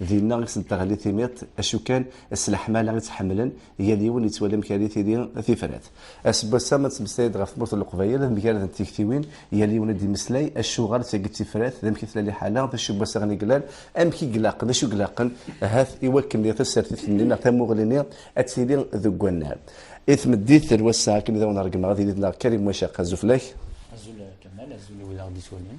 Dinna i sen-teɣli timiṭ, acu kan, s leḥmala i tt-ḥemmlen, yal yiwen yettwali amek ara tili tifrat. Aseggas-a, ma nettmeslay-d ɣef tmurt n Leqbayel, ad mgaradent tiktiwin, yal yiwen ad d-yemmeslay acuɣer d tagi tifrat, d amek i tella liḥala, d acu n wassaɣen i yellan, amek i ilaqen, d acu i ilaqen, ahat, i wakken diɣ tasertit-nni neɣ tamuɣli-nni ad tili deg wannar. I tmeddit n wass-a, akken i d awen-ṛeggmeɣ, ad yili d neɣ Karim Wacaq, azul fell-ak. Azul a Kamal, azul i wid i aɣ-d-yettwalin.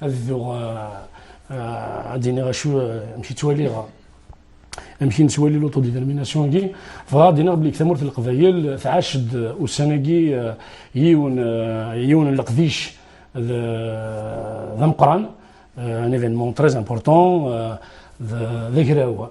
ad dduɣ ad d-iniɣ acu amek i ttwaliɣ amek i nettwali l'autodétermination-agi bɣa ad d-iniɣ belli tamurt n leqbayel tɛac-d ussan-agi yiwen yiwen n leqdic d ameqran un événement très important d agraw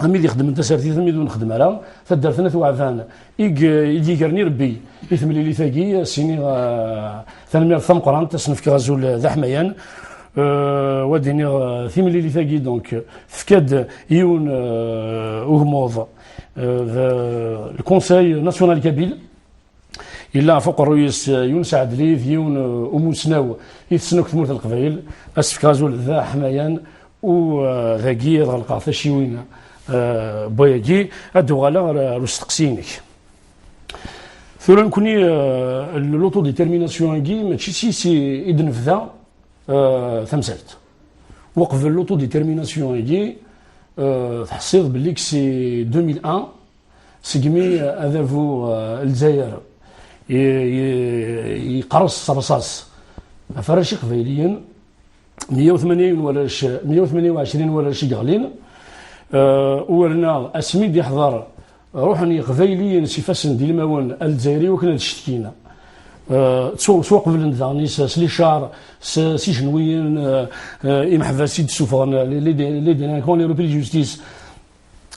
am id ixedmen tasertit am id ur nexdem ara taddart n at waɛban i d-yegren irebbi i temlilit-agi sini tanemmirt tameqrant ad sen-fkeɣ azul d aḥmayan wa d-iniɣ timlilit-agi donc tefka-d yiwen ugmuḍ le conseil national kabyle إلا ɣف uqerruy-is Yunes Ɛedli d yiwen umussnaw i tessen akk tmurt n Leqbayel. Asefk azul d aḥmayan u dagi ad ɣelqeɣ taciwin n wayagi, ad d-uɣaleɣ ɣer usteqsi-inek. Tura nekkni l'autodétermination-agi mačči seg-s i d-nebda tamsalt. Uqbel l'autodétermination-agi tḥessiḍ belli seg 2001 segmi adabu Lezzayer yeqres s rṣas ɣef arrac iqbayliyen 180 warrac 128 warrac i yeɣlin uwernaɣ asmi d-iḥḍer ruḥen yiqbayliyen s ifassen d ilmawen Alezzayer i wakken ad cetkin ttwaqeblen daɣen s licar s ijenwiyen imeḥbas i d-suffɣen les délinquants les repris de justice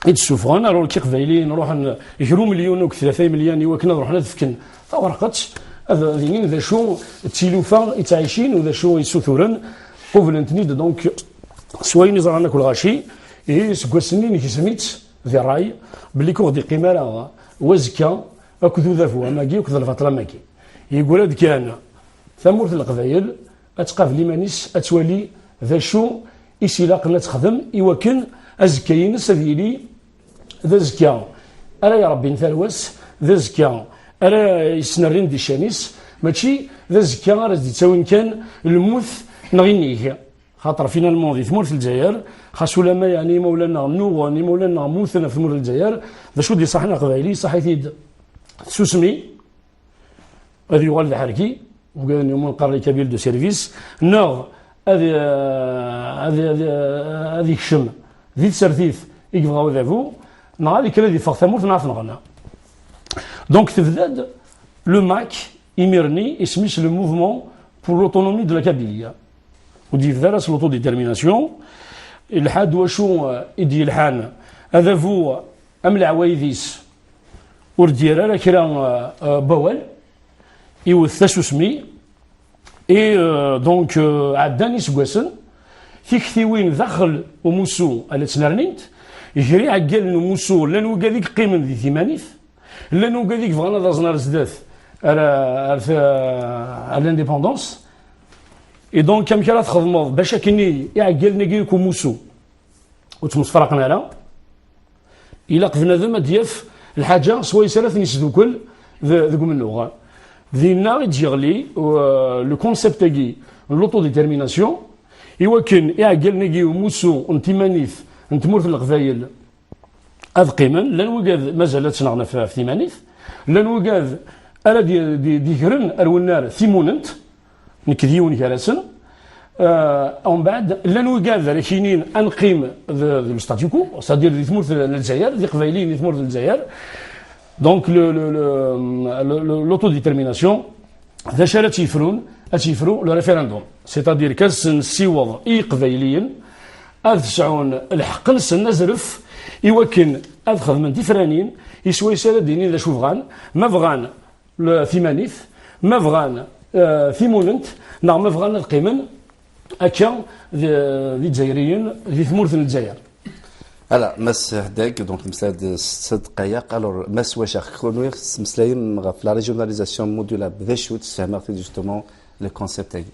i d-sufɣen ar ɣur-k iqbayliyen ruḥen gru milyon u tlata imelyan i wakken ad ruḥen ad fken tawerqet ad d-inin d acu d tilufa i ttɛicin u d acu i suturen qublen-ten-id donc s wayen i ẓran akk lɣaci ihi seg wass-nni negzem-itt di ṛṛay belli k ur ɣ-d-iqqim ara wazekka akked udabu amagi akked lbaṭel amagi. Yeggra-d kan tamurt n leqbayel ad tqabel iman-is, ad twali d acu i s-ilaqen ad texdem i wakken azekka-ines ad yili d azekka ara irebbin tarwa-s, d azekka ara yesnerrin di ccan-is, mačči d azekka ara s-d-ittawin kan lmut neɣ inig. Xaṭer finalman di tmurt n Lezzayer, xas ulamma yeɛni imawlan-nneɣ nnuɣen, imawlan-nneɣ mmuten ɣef tmurt n Lezzayer, d acu d-iṣaḥen Aqbayli, iṣaḥ-it-id tsusmi, ad yuɣal d aḥerki ugaden yumun qqaren kabil de service neɣ ad ad ad yekcem di tsertit i yebɣa udabu neɣ ad yekker ad iffeɣ tamurt neɣ tenɣena donc tebda-d le MAC imir-nni isem-is le mouvement pour l'autonomie de la Kabylie ur d-yebda ara s l'autodétermination ilḥa-d wacu i d-yelḥan adabu am leɛwayed-is ur d-yerr ara kra bawal iwet tasusmi i donc ɛeddan iseggasen tiktiwin daxel umusu a la ttnernint ger iɛeggalen umusu llan wigad i yeqqimen di timanit llan wigad i yebɣan ad aẓen ar zdat ar l'indépendance et donc amek ara txedmeḍ bac akken iɛeggalen-agi i kumusu ur ttmesfaraqen ara ilaq bnadem ad d-yaf lḥaǧa s wayes ara ten-isdukkel deg umennuɣ. Dinna i d-yeɣli le concept-agi n l'autodétermination iwakken iɛeggalen-agi umussu n timanit n tmurt n Leqbayel ad qqimen, llan wigad mazal ad ttnaɣen ɣef timanit, llan wigad ara d-yegren ar wennar timunent, Nekk d yiwen gar-asen. Umbeɛd, llan wigad ara k-yinin ad neqqim d l'statuquo, c'est-à-dire di tmurt n Lezzayer, d iqbayliyen di tmurt n Lezzayer, donc l'autodétermination, d acu ara tt-yefrun? Ad tt-yefru le référendum, c'est-à-dire qu'ad sen-nessiweḍ i yiqbayliyen ad sɛun lḥeqq-nsen azref i wakken ad xedmen tifranin i swayes ara d-inin d acu bɣan, ma bɣan timanit ma bɣan euh, timunent neɣ ma bɣan ad qqimen akka d izzayriyen di tmurt n lezzayer Ala, Mass Hdeg, donc temslad s sid qayaq, alors Mass Wachax, kunwi tettmeslayem ɣef la régionalisation modulable, d acu tessehmeɣ-t justement le concept-agi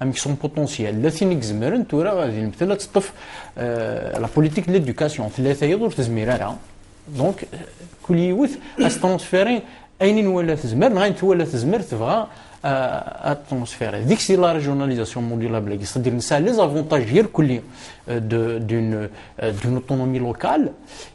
amek son potentiel la tin i izemren tura ad ilmtel ad teṭṭef la politique de l'éducation tella tayeḍ ur tezmir ara donc kul yiwet as transférer ayen i nwala tezmer neɣ ayen twala tezmer tebɣa ad transférer deg si la régionalisation modulable c'est-à-dire nesɛa les avantages irkelli d'une d'une autonomie locale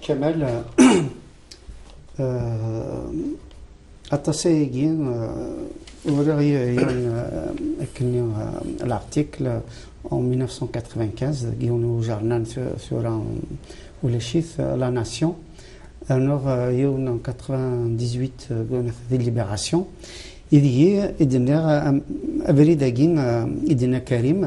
Kamal, aṭas ayagi uriɣ yiwen akkenni l'article en 1995 deg yiwen ujernan tura ulac-it La Nation rnuɣ yiwen en 98 gunat di Libération ideg i d-nniɣ abrid-agi i d-yenna Karim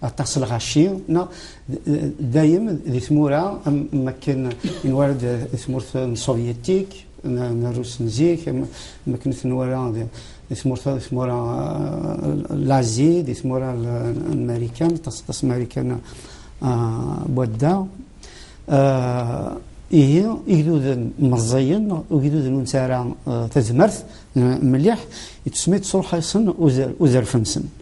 aṭas lɣaci neɣ dayem di tmura am akken nwara di tmurt n sovyetik n rus n zik am akken tenwara di tmurt di tmura lazi di tmura n marikan aṭas aṭas marikan wadda ihi igduden meẓẓiyen igduden ur nesɛi ara tazmert mliḥ i tsemmi tesruḥ-asen uzerf-nsen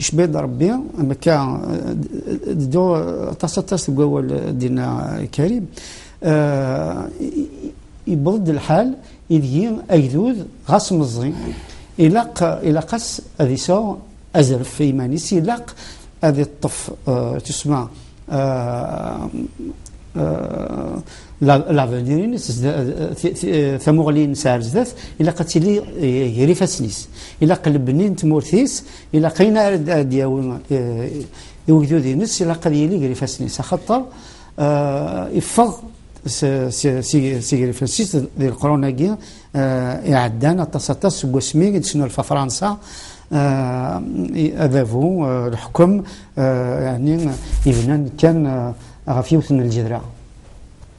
Icbi-d Ṛebbi, mekka d-ddu aṭas aṭas deg wawal dinna Karim, yewweḍ-d lḥal ideg-i agdud ɣas meẓẓi ilaq ilaq-as ad iseɣ azref i yiman-is, ilaq ad iṭṭef tussma lavenir-ines, tamuɣli-ines ar zdat, ilaq ad tili ger ifassen-is, ilaq lebni n tmurt-is, ilaq ayen ara d-yawi i ugdud-nnes ilaq ad yili gar ifassen-is axaṭer iffeɣ sigrifensis di leqrun-agi iɛeddan aṭas aṭas seg wasmi i d-tesnulfa Fransa adabu leḥkem yani ibnan kan ɣef yiwet n lǧedra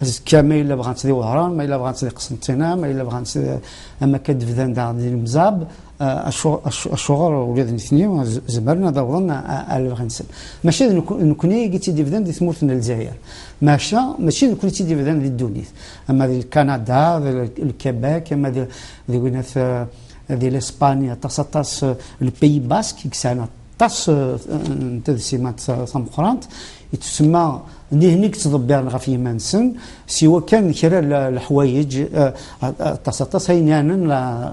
azekka ma yella bɣant di wehran ma yella bɣant di qsentina ma yella bɣant ama akka d-bdan daɣ di lemzab acuɣer ula d nitni zemren ad awḍen ar lebɣi-nsen maca d nekni i tt-id-ibdan di tmurt n lezzayer maca mačči d nekni i tt-id-ibdan di ddunit ama di lkanada di lkebek ama di winat di lespani aṭas aṭas lpeyi bask i yesɛan aṭas Ṭas eh, n tadsimat eh, tameqrant i tsemma nihni yettḍebbiren ɣef yiman-nsen si wakan kra leḥwayeǧ eh, aṭas aṭas ayen yanen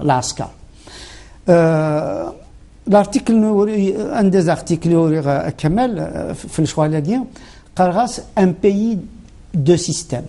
lɛasker. L'article un des articles uriɣ Kamal fi lecɣal-agi qqareɣ-as un pays de système.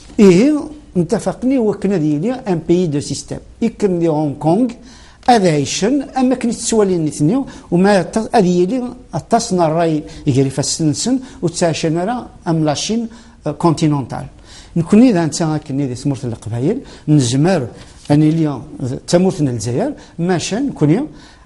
Ihi ntafaqen i wakken ad yili un pays de système. Ikken di Hong Kong ad ɛicen am akken i ttwalin nitni uma ad yili aṭas n ṛṛay gar ifassen-nsen ur ttɛican ara am la Chine euh, continentale. Nekkni d anta akken di tmurt n Leqbayel nezmer ad nili d tamurt n Lezzayer maca nekkni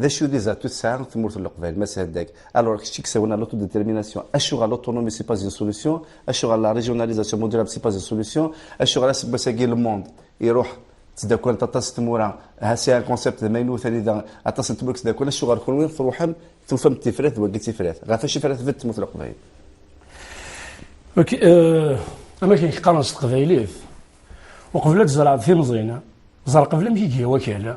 D acu des atouts tesɛa tmurt n Leqbayel, Mass Haddag? Alors, kečč i yessawalen à l'autodétermination, acuɣer l'autonomie c'est pas une solution, acuɣer la régionalisation modulable c'est pas une solution, acuɣer aseggas-agi le monde iruḥ ttdakkant aṭas tmura, ha c'est un concept d amaynut anida aṭas n tmura ttdakkant, acuɣer kunwi truḥem tufam-d tifrat d wagi d tifrat? Ɣef wacu ara tbedd tmurt n Leqbayel? Ok, am akken i k-qqaren s teqbaylit, uqbel ad tzerɛeḍ timẓin, ẓer qbel amek i iga wakal.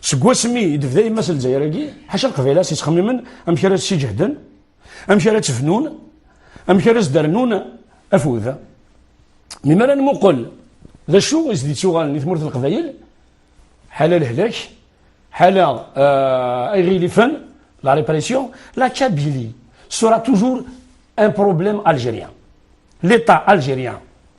seg wasmi i d-tebda yemma s lezzayer-agi ḥaca lqbayla s-yettxemmimen amek ara s-siǧehden amek ara tt-fnun amek ara s-dernun afud mi mara nmuqel d acu i s-d-ittuɣalen i tmurt n leqbayel ḥala lehlak ḥala ay ɣilifen la répression la Kabylie sera toujours un problème algérien l'état algérien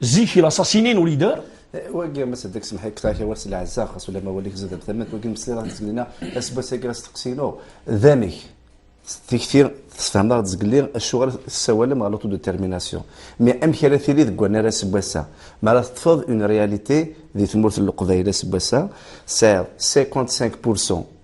Zik i laṣasinin ur yedder. Wagi ma seddek semḥi ktaak awal s lɛezza xas ula ma walik zedab tamant wagi mesliḍ ad zgelina asbas-agi asteqsinu d amek tikti tesfehmeḍ-aɣ-d zgelli acuɣer tessawalem ɣer l'autodetermination mi amek ara tili deg wannar aseggas-a mi ara teṭṭfeḍ une réalité di tmurt n Leqbayel aseggas-a tesɛiḍ 55 pour cent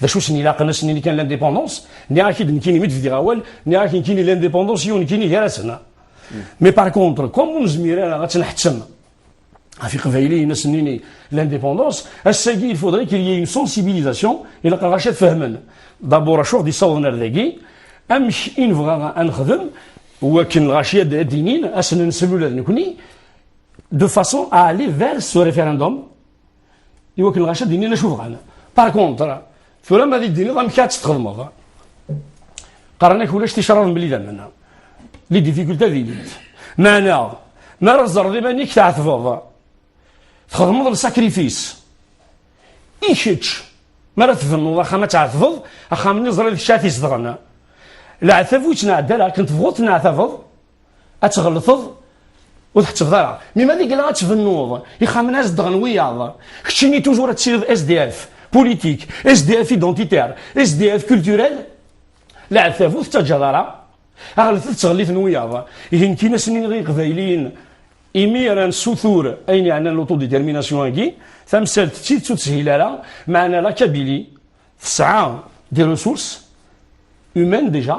d acu sen ilaqen ass nni kan l'indépendance nniɣ ak id nekkini mi d-bdiɣ awal nniɣ ak nekkini l'indépendance yiwen nekkini gar-asen mais par contre comme ur nezmir ara ad tenḥettem ɣef iqbayliyen ass nni l'indépendance ass-agi il faudrait qu'il y ait une sensibilisation ilaq ɣac ad fehmen d'abord acu ɣ d-isawḍen ar dagi amek i nebɣa ad nexdem wakken ɣac ad d-inin ass-n nsel ula d nekkni de façon à aller vers ce référendum Iwakken lɣaci ad d-inin d acu bɣan. Par contre, tura ma ad d-tiniḍ amek ad tt-txedmeḍ. Qqaren-ak ulac ticraḍ mebla idammen. Les difficultés d'élite. Meɛna, mi ara tzerreḍ iman-ik tɛetbeḍ, txedmeḍ lsakrifis. I kečč, mi ara tbennuḍ axxam ad tɛetbeḍ, axxam-nni ẓriɣ d kečč ara t-izedɣen. Leɛtab ur yettneɛdal, akken tebɣuḍ tneɛtabeḍ. ad tɣelteḍ ur tḥettbeḍ ara mi ma deg la ad tbennuḍ ixxamen ad zedɣen wiyaḍ keččini toujours ad tiliḍ SDF politik SDF identitaire SDF culturel leɛtab ur tettaǧǧaḍ ara aɣlet tettɣelliten wiyaḍ ihi nekk inasen i iqbayliyen imi ara nessutur ayen yeɛnan l'autodétermination-agi tamsalt d tidet ur teshil ara meɛna la kabili tesɛa des ressources humaines déjà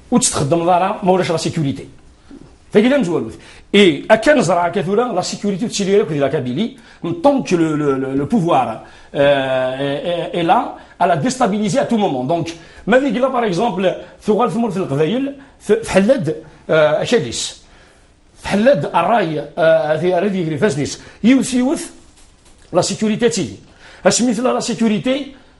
ur tt-txeddmeḍ ara ma ulac la sécurité tagi d amezwalut et akka neẓra akka tura la sécurité ur tettili ara akked la Kabylie tant que le, le, le, le pouvoir euh, est là à la déstabiliser à tout moment donc ma digi la par exemple tuɣal tmurt n Leqbayel tḥella-d euh, akal-is tḥella-d ṛṛay euh, ara d-yegri ifassen-is yiwet yiwet la sécurité ad tili asmi tella la sécurité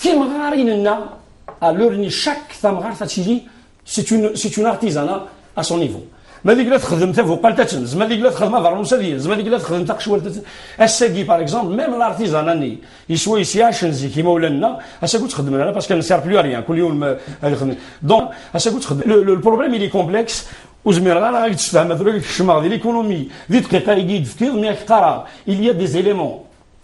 timɣarin-nneɣ à leur ni chaque tamɣart ad tili c'est une c'est une artisanat à son niveau ma deg la txedem tabuqalt ad tenz ma deg la txedem abeṛnus ad yenz ma deg la txedem taqecwalt ad ass-agi par exemple même l'artisanat-nni yeswa yesyac n zik imawlan-nneɣ ass-agi ur txeddmen ara parce qu'elle ne sert plus à rien kul yawm ad ixdem donc ass-agi ur txeddem le problème il est complexe ur zmireɣ ara ad d-sfehmeɣ tura kecmeɣ di l'économie di dqiqa-agi i d-tefkiḍ mi ak-qqareɣ il y a des éléments